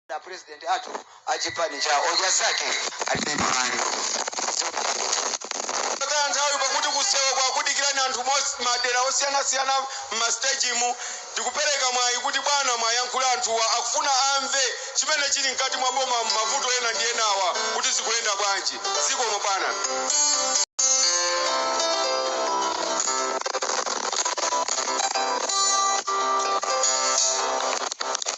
a president athu a chipani cha odya zake alibe mlandu pakhala nthawi pakuti kusewa kwakudikirani anthu mos- madera osiyanasiyana m'masitejimu ndikupereka mwayi kuti bwana muwayankhule anthuwa akufuna amve chimene chili mkati mwa boma m'mavuto ena ndi enawa kuti zikuyenda bwanji zikomo bwana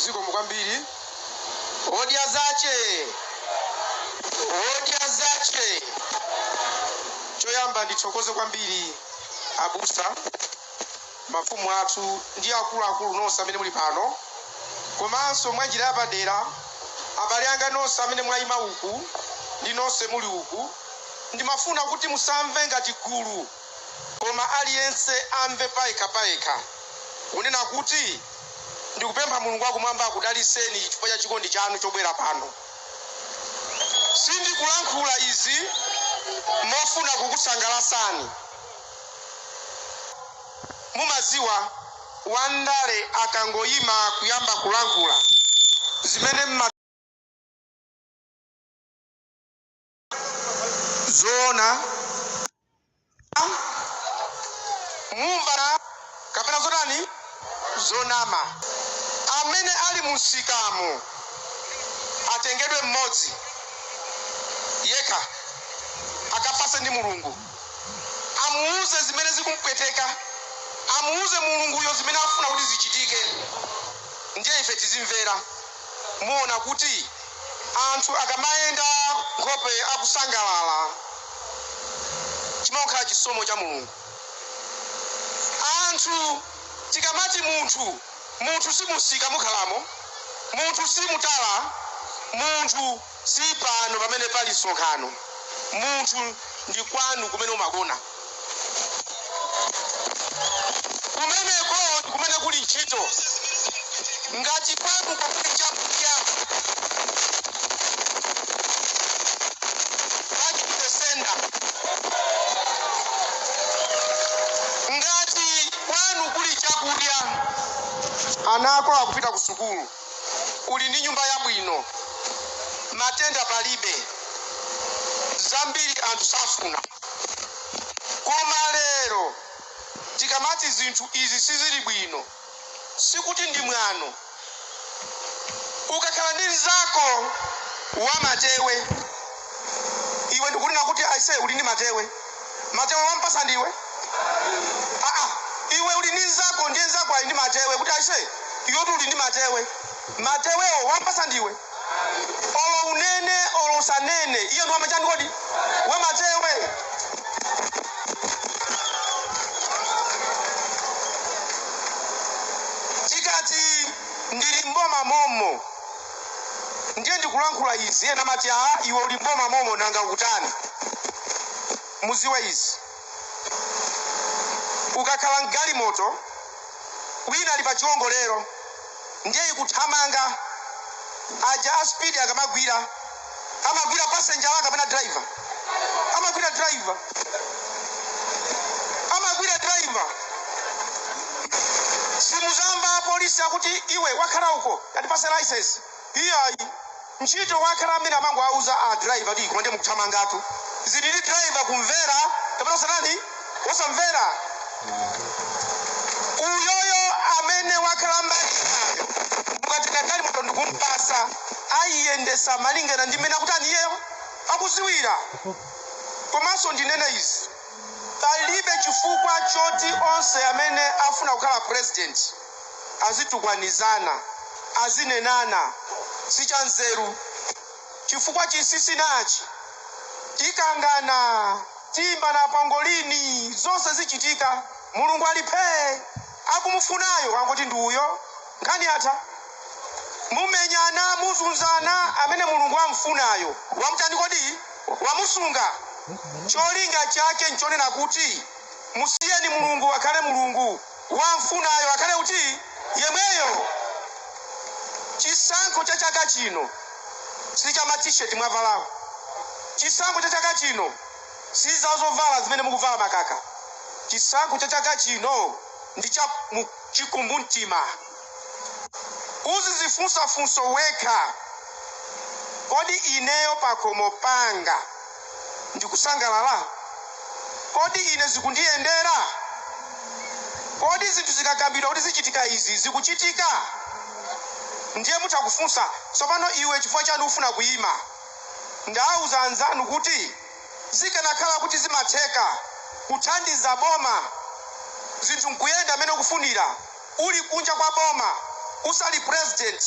zikomo kwambiri odya zache odya zache choyamba ndithokoze kwambiri abusa mafumu athu ndi akuluakulu nonse amene muli pano, komanso mwa njira yapadera abale anga nonse amene mwaima uku ndi nonse muli uku, ndimafuna kuti musamve ngati gulu koma aliyense amve payekha payekha kunena kuti ndikupempha Mulungu wa Kumwamba akudalitseni chifukwa cha chikondi chanu chobwera pano. Sindikulankhula izi mofuna kukusangalatsani. Mumadziwa wandale akangoima kuyamba kulankhula zimene mmaganiza zoona mumva kapena zotani zonama. Amene ali mumsikamo atengedwe mmodzi yekha akafase ndi Mulungu. Amuuze zimene zikumupweteka. Amuuze Mulunguyo zimene afuna kuti zichitike. Ndiye ife tizimvera. Muona kuti anthu akamayenda nkhope akusangalala, chimangokhala chisomo cha Mulungu. Anthu tikamati munthu, munthu si mumsika mukhalamo, munthu si mutala, munthu. Si pano pamene pali msonkhano. Munthu, ndi kwanu kumene umagona. Kumeneko ndi kumene kuli ntchito. Ngati kwanuko kuli chakudya, back to the sender. Ngati kwanu kuli chakudya, ana ako akupita kusukulu. uli ndi nyumba yabwino, matenda palibe, zambiri anthu safuna. Koma lero tikamati zinthu izi sizili bwino, sikuti ndi mwano. Ukakhala ndi mnzako wamatewe, iwe n'kunena kuti aise uli ndi matewe. Matewe wampasa ndiwe ah, ah. iwe uli ndi nzako ndiye nzako ali ndi matewe kuti ase iwe kuti uli ndi matewe matewewo wampasa ndiwe olo unene olo usanene iye ndi wamachani kodi we matewe tikati ndili mboma momo ndiye ndikulankhula izi ena amati a iwe uli mboma momo nanga ukutani mudziwe izi ukakhala mgalimoto wina ali pa chiwongolero ndiye ikuthamanga aja a speed akamagwira amagwira passenger wake kapena driver amagwira driver amagwira driver simudzamva apolisi akuti iwe wakhala uko atipatse license iyayi ntchito wakhala amene amangowauza a driver kuti koma ndiye mukuthamangatu zili ndi driver kumvera kapena kutani osamvera uyoyo amene wakhala mbali inayo mukatenga galimoto ndikumpatsa ayiyendesa malingana ndi mmene akutani iyeyo akudziwira komanso ndinena izi palibe chifukwa choti onse amene afuna kukhala president azitukwanizana azinenana si cha nzeru Chifukwa chinsinsi nachi, tikangana, tiimbana pangolini, zonse zichitika. Mulungu ali phee! Akumufunayo angoti ndi uyo, nkhani yatha. Mumenyana, muzunzana, amene Mulungu am'funayo wam'tani kodi? Wamusunga. Cholinga chake n'chonena kuti, Musiyeni Mulungu akhale Mulungu. wamfunayo akhale kuti yemweyo chisankho cha chaka chino si cha ma t-shirt mwavalawo chisankho cha chaka chino si za zovala zimene mukuvala makaka chisankho cha chaka chino ndi cha mu- chikumbumtima uzidzifunsa funso wekha kodi ineyo pakhomo panga ndikusangalala? Kodi ine zikundiyendera? Kodi zinthu zikakambidwa kuti zichitika izi, zikuchitika? Ndiye mutha kufunsa, Tsopano iwe chifukwa chani ufuna kuyima? Ndawuza anzanu kuti zikanakhala kuti zimatheka kuthandiza boma zinthu nkuyenda mmene ukufunira uli kunja kwa boma usali president,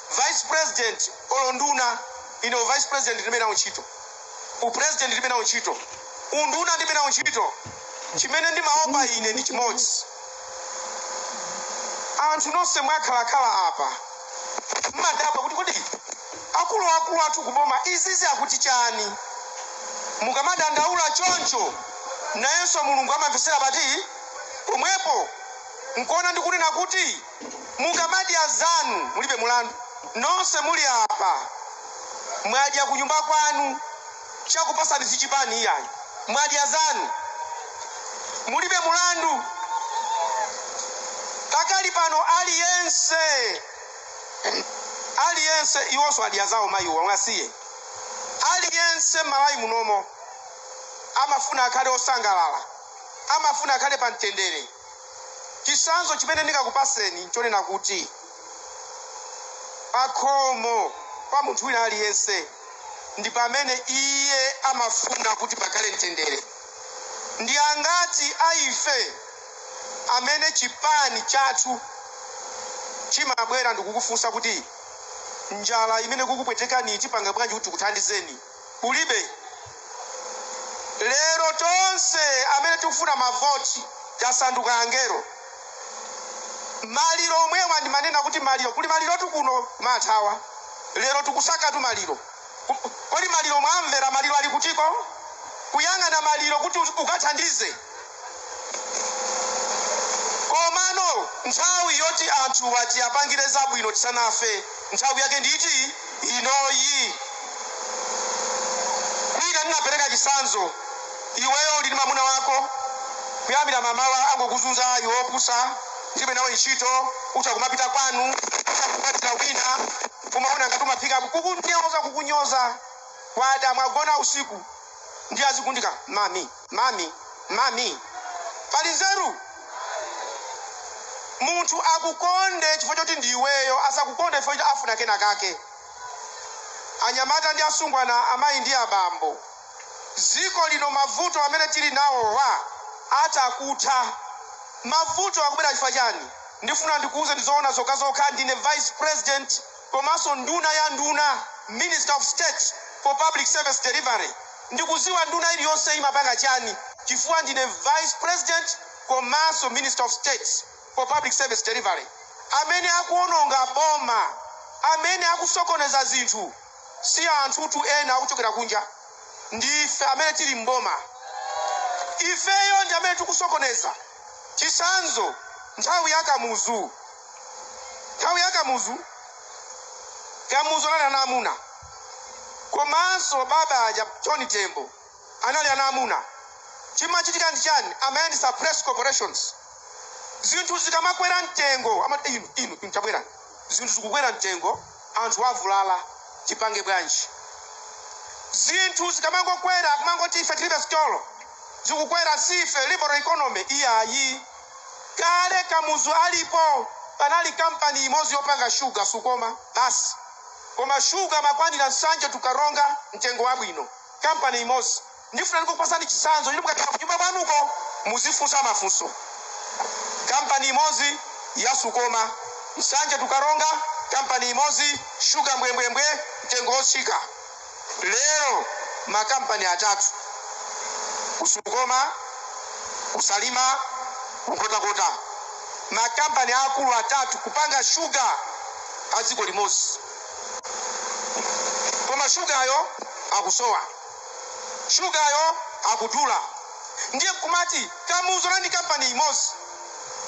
vice president olo nduna, ine u vice president ndilibe nawo ntchito. upresident ndilibe nawo ntchito unduna ndilibe nawo ntchito chimene ndimaopa ine ndi chimodzi anthu nonse mwakhalakhala apa mmadabwa kuti kodi akuluakulu athu kuboma izizi akuti chani mukamadandaula choncho nayenso mulungu amamvetsera pati pomwepo nkuona ndikunena kuti Mukamadya zanu mulibe mulandu. Nonse muli apa mwadya kunyumba kwanu chakupasani sichipani iyayi mwadya zanu mulibe mulandu. Pakali pano aliyense aliyense iwonso adye zawo mayiwo awasiye. Aliyense m'Malawi munomo amafuna akhale osangalala amafuna akhale pa mtendere. Chitsanzo chimene ndingakupaseni n'chonena kuti pakhomo pa munthu wina aliyense ndi pamene iye amafuna kuti pakhale mtendere. Ndi angati a ife amene chipani chathu chimabwera ndikukufunsa kuti njala imene ikukupwetekaniyi tipanga bwanji kuti tikuthandizeni? kulibe lero tonse amene tikufuna mavoti tasanduka angelo maliro omwewa ndimanena kuti maliro kuli malirotu kuno mumathawa lero tikusakatu maliro Kodi maliro mwamvera maliro ali kutiko kuyang'ana maliro kuti ukathandize Komano nthawi yoti anthuwa tiapangire zabwino tisanafe nthawi yake ndi iti? Inoyi. Mwina ndinapereka chitsanzo iweyo uli ndi mamuna wako kuyambira mamawa angokuzunza iwe opusa ndilibe nawe ntchito utha kumapita kwanu utha kukwatira wina umaona ngati umaphika kukunyoza kukunyoza kwada, mwagona usiku ndiye azikuti mami Mami, mami, pali nzeru? Munthu akukonde chifukwa choti ndi iweyo, asakukonde chifukwa choti afuna kenakake. Anyamata ndi asungwana, amayi ndi abambo, dziko lino mavuto amene tili nawowa atha kutha. Mavuto akubwera chifukwa chani? Ndifuna ndikuuze zoona zokhazokha, ndine vice president. komanso nduna ya nduna, Minister of State for Public Service Delivery, ndikuziwa nduna iliyonse imapanga chani chifukwa ndine Vice President komanso Minister of State for Public Service Delivery. Amene akuononga boma, amene akusokoneza zinthu si anthutu ena akuchokera kunja, ndi ife amene tili m'boma. Ifeyo ndi amene tikusokoneza. Chitsanzo, nthawi ya Kamuzu Nthawi ya Kamuzu, Kamuzu anali mwamuna komanso baba aja John Tembo anali mwamuna. Chimachitika ndi chani? Amayendetsa press corporations. Zinthu zikamakwera mtengo amati inu, inu, inu tabwerani. Zinthu zikukwera mtengo, anthu avulala, tipange bwanji? Zinthu zikamakwera kumangoti ife tilibe sitolo, zikukwera si ife liberal economy iyayi. Kale Kamuzu alipo panali company imozi yopanga sugar, Sukoma basi. Koma sugar amakwanira Nsanje to Karonga mtengo wabwino. Company imozi. Ndifuna ndingokupasani chitsanzo choti mukapita kunyumba kwanuko muzifunsa mafunso. Company imozi ya Sukoma. Nsanje to Karonga company imozi sugar mbwembwembwe mtengo otsika. Lero makampani atatu ku Sukoma, ku Salima, ku Nkhotakota, makampani aakulu atatu kupanga shuga a dziko limodzi. Koma shugayo akusowa, shugayo akudula. Ndiye nkumati Kamuzu anali ndi kampani imodzi,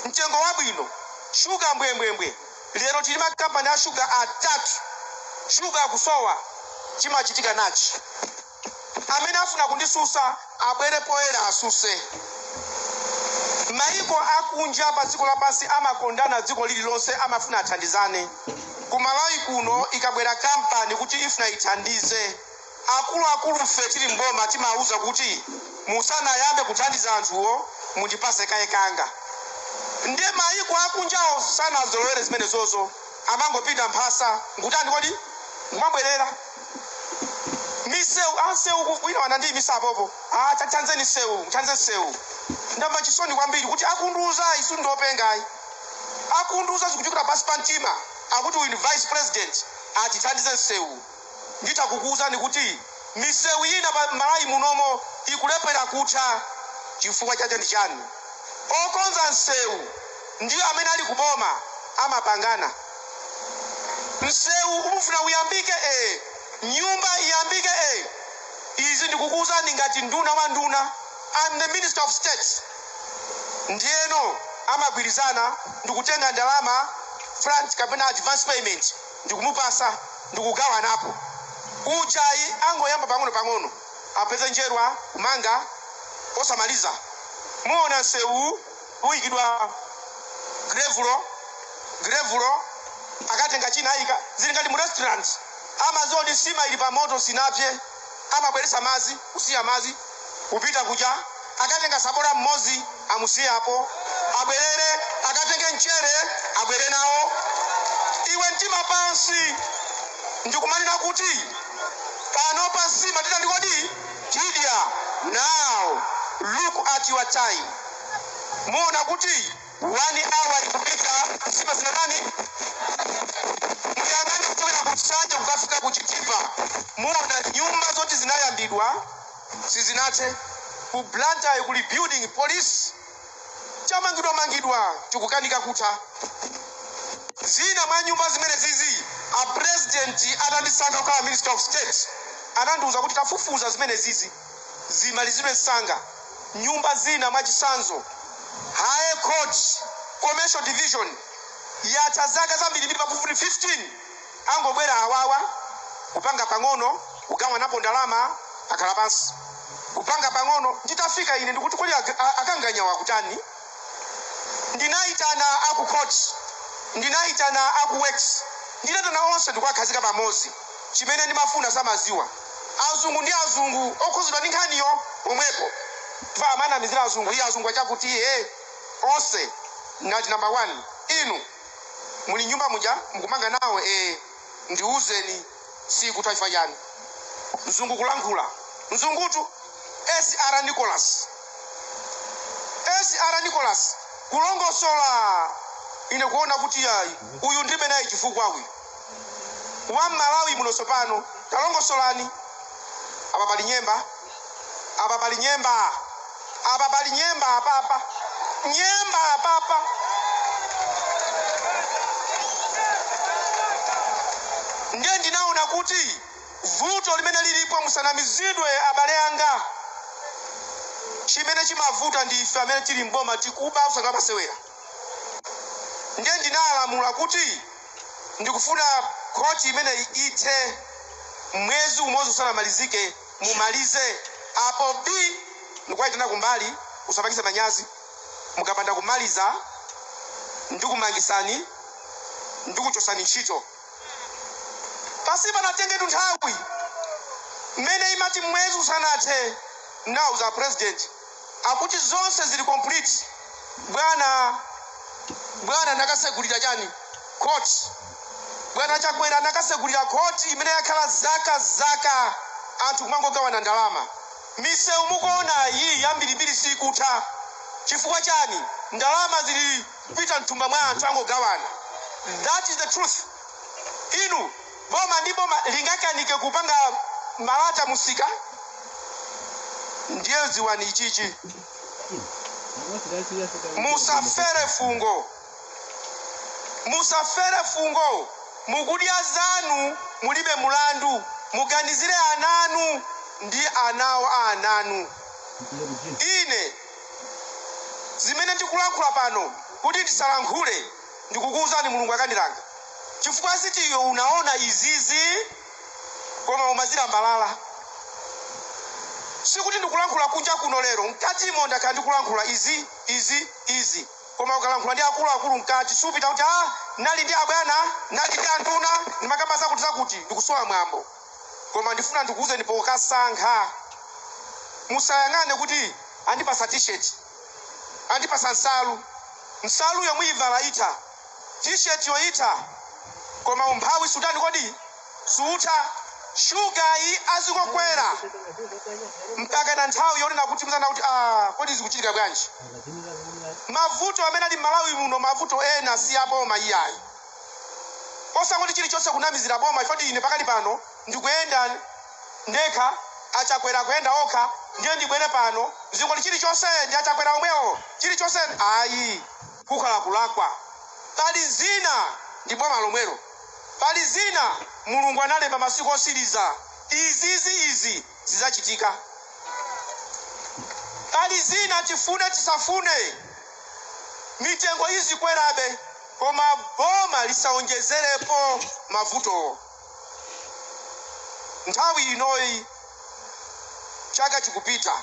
mtengo wabwino, shuga mbwembwembwe. Lero tili ma company a sugar atatu sugar akusowa chimachitika nachi? Amene afuna kundisusa abwere poyera asuse. Maiko akunja pa dziko lapansi amakondana dziko lililonse amafuna athandizane. Ku Malawi kuno ikabwera company kuti ifuna ithandize. Akuluakulufe tili m'boma timawauza kuti musanayambe kuthandiza anthuwo mundipatse kaye kanga. Ndiye mayiko akunjawo sanazolowere zimenezozo, amangopinda mphasa n'kutani kodi? N'kumabwerera. Misewu, a msewu ku, wina anandiimitsa apopo, a tathandzeni msewu, muthandze msewu. Ndamva chisoni kwambiri kuti akundiuza ayi, sikuti ndi openga ayi. Akundiuzanso kuchokera pansi pa mtima akuti uyu ndi vice president, atithandize msewu. Nditha kukuuzani kuti misewu ina pa Malawi munomo ikulephera kutha. Chifukwa chache ndi chani? Okonza msewu ndi amene ali ku boma amapangana. Msewu ukufuna uyambike ee, nyumba iyambike ee. Izi ndikukuuzani ngati nduna wa nduna, I'm the Minister of State. Ndiyeno amagwirizana ndikutenga ndalama front kapena advance payment. ndikumupasa ndikugawanapo uja ayi angoyamba pang'ono pang'ono apeze njerwa kumanga osamaliza muona nsewu wayikidwa grevulo grevulo akatenga china ayika zili ngati mu restaurant amaziwa kuti nsima ili pa moto sinapse apa abweretse madzi kusiya madzi kupita kuja akatenga sabola mmodzi amusiye apo abwerere akatenge mchere abwere nawo iwe mtima pansi ndikumanena kuti pano pa nsima titandi kodi tidya now look at your time muona kuti One hour ikupita nyumba zinatani? Muyang'ane kuchokera ku Nsanje kukafika ku Chitipa, muona nyumba zoti zinayambidwa sizinathe. Ku Blantyre kuli building police changomangidwa mangidwa chikukanika kutha. Zina mwa nyumba zimenezi a president atandiika kukhala minister of state anandiuza kuti tafufuza zimene zizi zimalizidwe msanga nyumba zina mwachitsanzo high court commercial division yatha zaka zambirimbiri pafupifupi 15 angobwera awawa kupanga pang'ono kugawanapo ndalama akhala pansi kupanga pang'ono nditafika ine nkuti kodi ag- a- akanganyawa akutani Ndinaitana a ku court, ndinaitana a ku works, ndinaitana onse ndikuwakhazika pamodzi. Chimene ndimafuna samadziwa. Azungu ndi azungu, okhuzidwa ndi nkhaniyo pomweko. Chifukwa amanamizira azungu, ii azungu achakuti ee. Onse ndinati number one, inu muli m'nyumba muja mukumanga nawo ee, ndiuzeni. sikutha chifukwa chani mzungu kulankhula mzungutu SR Nicholas SR Nicholas kulongosola ine kuona kuti yayi uyu ndilibe naye chifukwa uyu wa mmalawi muno tsopano talongosolani apa pali nyemba Apa pali nyemba. Apa pali nyemba apapa. Nyemba apapa. Ndiye ndinaona kuti vuto limene lilipo musanamizidwe abale anga. Chimene chimavuta ndi ife amene tili m'boma tikuba osati masewera. Ndiye ndinalamula kuti ndikufuna khoti imeneyi ithe mwezi umodzi usanamalizike mumalize apo bii ndikuwaitana kumbali usapatse manyazi mukapanda kumaliza ndikumangisani ndikuchosani ntchito pasanatengetu nthawi mmene umati mwezi usanathe ndawauza president A kuti zonse zili complete bwana bwana anakasegulira chani court bwana chakwera anakasegulira court imene yakhala zaka zaka anthu kumangogawana ndalama misewu mukuonayi yambirimbiri sikutha chifukwa chani ndalama zili kupita mthumba mwa anthu angogawana that is the truth inu Boma ndi boma lingakanike kupanga malata musika ndiye dziwani ichichi musafere fungo musafere fungo mukudya zanu mulibe mulandu muganizire ana anu ndi ana awo a ana anu ine zimene ndikulankhula pano kuti ndisalankhule Ndikukuuzani Mulungu akandilanga chifukwa zoti iwe unaona izizi koma umazilambalala. Sikuti ndikulankhula kunja kuno lero mkatimo ndakhala ndikulankhula izi, izi, izi koma ukalankhula ndi akuluakulu mkati siupita kuti ah nali ndi abwana nali ndi anduna ndimakamba zakuti zakuti ndi kusowa mwambo. Koma ndifuna ndikuuzeni pokasankha musayang'ane kuti andipatsa T-shirt. Andipatsa nsalu, nsaluyo muyivala itha, t-shirt yo itha koma umphawi suutani kodi? Sutha. Sugar yi azingokwera mpakana nthawi yonena kuti mudzanena kuti ah, kodi zikuchitika bwanji? Mavuto amene ali m'Malawi muno mavuto ena si a boma iyayi. Osangoti chilichonse kunamizira boma zoti ine pakali pano ndikuyenda ndekha achakwera akuyenda okha ndiye ndibwere pano ndizingoti chilichonse ndi achakwera omwewo chilichonse ayi kukhala kulakwa pali zina ndi boma lomwelo pali zina mulungu analemba masiku otsiriza izizi izi zidzachitika pali zina tifune tisafune mitengo izikwerabe koma boma lisaonjezerepo mavutowo Nthawi inoyi chaka chikupita,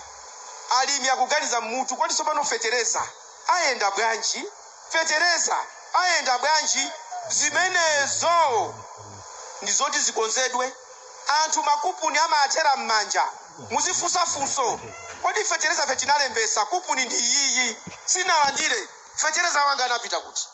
alimi akuganiza m'mutu, kodi tsopano fetereza ayenda bwanji? Fetereza ayenda bwanji? Zimenezo ndi zoti zikonzedwe. Anthu makuponi amaathera m'manja. Muzifunsa funso, kodi fetereza ife tinalembetsa kuponi ndi iyiyi, sinalandire, fetereza wanga anapita kuti?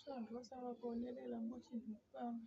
So anthu osala kuonerera mochitira kupanga.